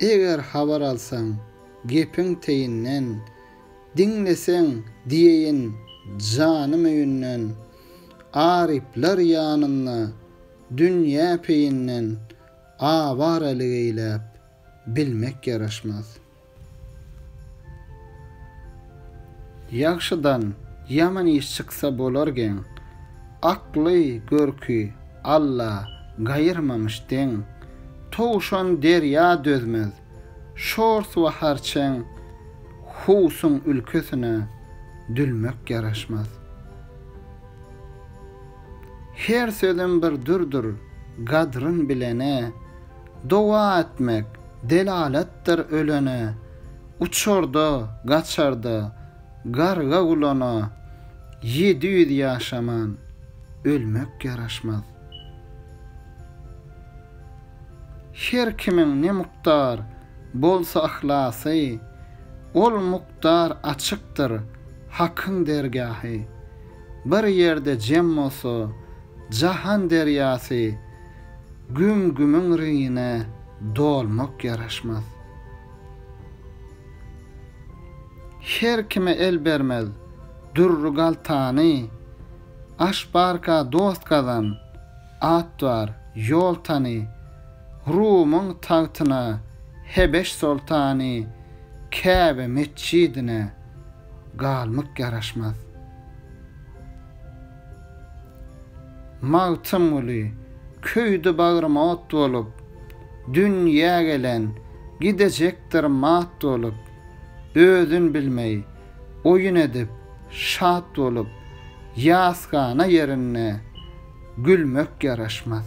Eger habar alsaň, gepiň teýinden, Diňleseň, diýeýin janym öýünden. Aryplar ýanynda dünýä peýinden, Awaralyk eýläp, bilmek ýaraşmaz. Ýagşydan ýaman iş çyksa bolar geň, Akly, görki Alla gaýyrmamyş deň. Towşan derýa dözmez, şors we harçeň, Howsuň ülkesine dülmek ýaraşmaz. Her sözem bir dürdir, gadryn bilene, Doga etmek delaletdir ölene, Uçarda, gaçarda, garga gulana, Ýedi ýüz ýaşaman, ölmek ýaraşmaz. Her kimiň ne mukdar bolsa yhlasy, Ol mukdar açykdyr Hakyň dergahy. Bir ýerde jem bolsa jahan derýasy, Güm-gümüň reňine dolmak ýaraşmaz. Her kime el bermez dürri galtany, Aş barka dost gazan, at bar, ýol tany. Rumyň tagtyna Hebeş soltany, Käbe metjidine galmak ýaraşmaz. Magtymguly, Köýdi bagrym ot bolup, Dün ýa gelen, gidejekdir mat bolup, Özün bilmeý, oýun edip, şat bolup, Ýasgana ýerinde gülmek ýaraşmaz.